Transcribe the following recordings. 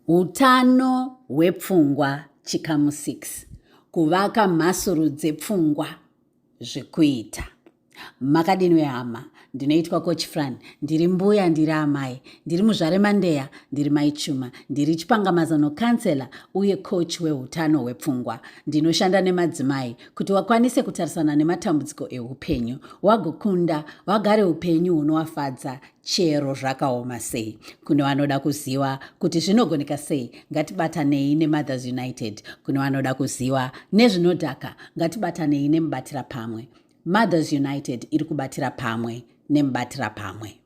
Utano hwepfungwa chikamu 6 kuvaka mhasuru dzepfungwa zvekuita makadini wehama ndinoitwa coach fran ndiri mbuya ndiri amai ndiri muzvare mandeya ndiri mai chuma ndiri chipangamazano kansela uye coach weutano hwepfungwa ndinoshanda nemadzimai kuti wakwanise kutarisana nematambudziko eupenyu wagokunda wagare upenyu hunowafadza chero zvakaoma sei kune vanoda kuziva kuti zvinogoneka sei ngatibatanei nemothers united kune vanoda kuziva nezvinodhaka ngatibatanei nemubatira pamwe mothers united iri kubatira pamwe nemubatira pamwe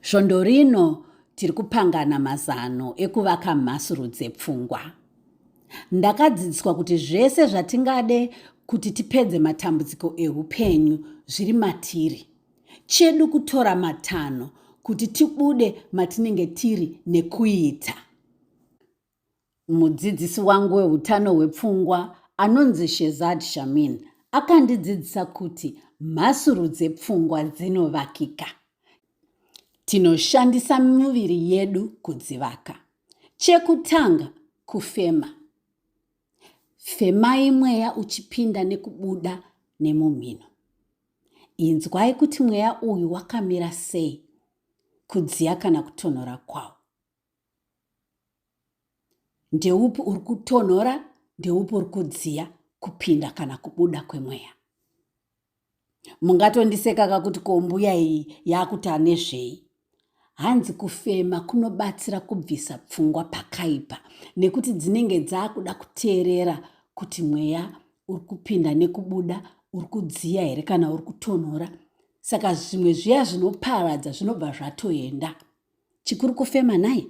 svondo rino tiri kupangana mazano ekuvaka mhasuru dzepfungwa ndakadzidziswa kuti zvese zvatingade kuti tipedze matambudziko eupenyu zviri matiri Chedu kutora matanho kuti tibude matinenge tiri nekuita. Mudzidzisi wangu weutano hwepfungwa anonzi Shezad Shamin akandidzidzisa kuti mhasuru dzepfungwa dzinovakika. Tinoshandisa miviri yedu kudzivaka. Chekutanga kufema. Femai mweya uchipinda nekubuda nemumhino. inzwai kuti mweya uyu wakamira sei kudziya kana kutonhora kwawo ndeupi uri kutonhora ndeupi uri kudziya kupinda kana kubuda kwemweya mungatondiseka kakuti kombuya iyi yakuti anezvei Hanzi kufema kunobatsira kubvisa pfungwa pakaipa nekuti dzinenge dzakuda kuteerera kuti mweya uri kupinda nekubuda uri kudziya here kana uri kutonhora saka zvimwe zviya zvinoparadza zvinobva zvatoenda chikuru kufema nhai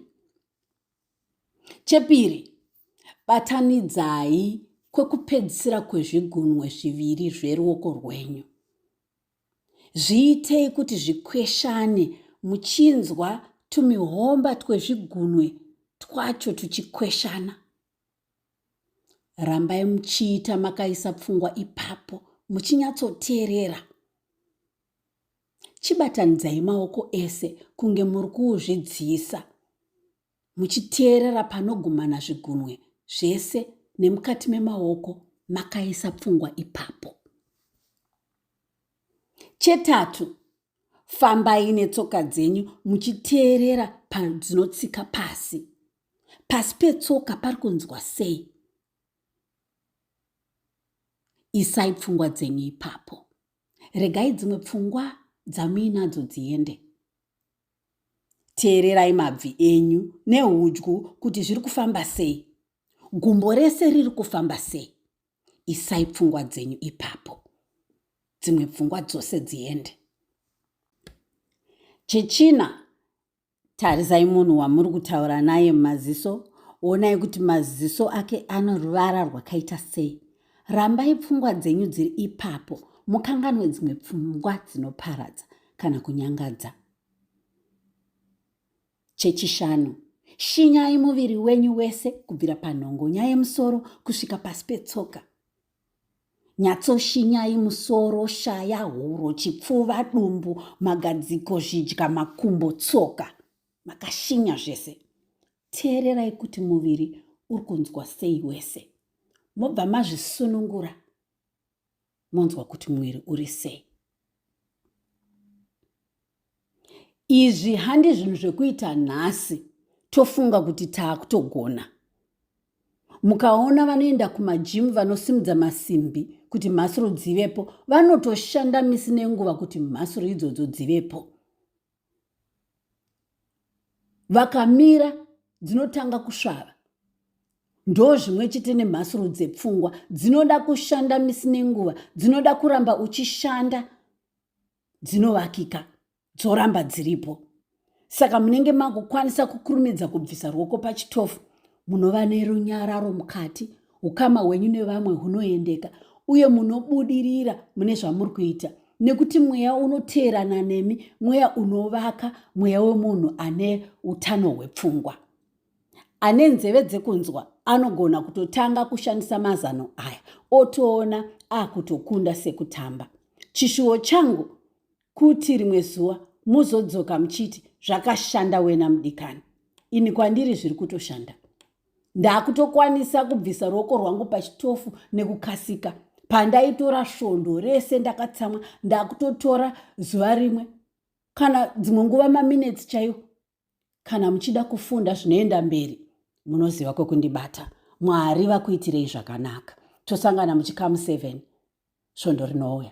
chepiri batanidzai kwekupedzisira kwezvigunwe zviviri zveruoko rwenyu Zviitei kuti zvikweshane muchinzwa tumihomba twezvigunwe twacho tuchikweshana. Rambai muchiita makaisa pfungwa ipapo muchinyatsoteerera. Chibatanidzai maoko ese kunge muri kuuzvidziisa. muchiteerera panogumana zvigunwe zvese nemukati memaoko makaisa pfungwa ipapo chetatu fambai netsoka dzenyu muchiteerera padzinotsika pasi pasi petsoka pari kunzwa sei isai pfungwa dzenyu ipapo regai dzimwe pfungwa dzamuinadzo dziende Teererai mabvi enyu nehudyu kuti zviri kufamba sei, gumbo rese riri kufamba sei. Isai pfungwa dzenyu ipapo, dzimwe pfungwa dzose dziende. Chechina, tarisai munhu wamuri kutaura naye mumaziso, onai kuti maziso ake ano ruvara rwakaita sei. Rambai pfungwa dzenyu dziri ipapo, mukanganwe dzimwe pfungwa dzinoparadza. kana kunyangadza chechishanu shinyai muviri wenyu wese kubvira panhongonya yemusoro kusvika pasi petsoka nyatsoshinyai musoro shaya huro chipfuva dumbu magadziko zvidya makumbo tsoka makashinya zvese teererai kuti muviri uri kunzwa sei wese mobva mazvisunungura monzwa kuti mwiri uri sei izvi handi zvinhu zvekuita nhasi tofunga kuti taakutogona mukaona vanoenda kumajimu vanosimudza masimbi kuti mhasuru dzivepo vanotoshanda misi nenguva kuti mhasuru idzodzo dzivepo vakamira dzinotanga kusvava ndo zvimwe chete nemhasuru dzepfungwa dzinoda kushanda misi nenguva dzinoda kuramba uchishanda dzinovakika dzoramba dziripo saka munenge makukwanisa kukurumidza kubvisa ruoko pachitofu munova nerunyararo mukati ukama hwenyu nevamwe hunoendeka uye munobudirira mune zvamuri kuita nekuti mweya unoteerana nemi mweya unovaka mweya wemunhu ane utano hwepfungwa ane nzeve dzekunzwa anogona kutotanga kushandisa mazano aya otoona akutokunda sekutamba chishuwo changu kuti rimwe zuva mozodzoka muchiti zvakashanda wena mudikani ini kwandiri zviri kutoshanda ndakutokwanisa kubvisa ruoko rwangu pachitofu nekukasika pandaitora svondo rese ndakatsamwa ndakutotora zuva rimwe kana dzimwe nguva maminetsi chaiwo kana muchida kufunda zvinoenda mberi munoziva kwekundibata mwari vakuitirei zvakanaka tosangana muchikamu 7 svondo rinouya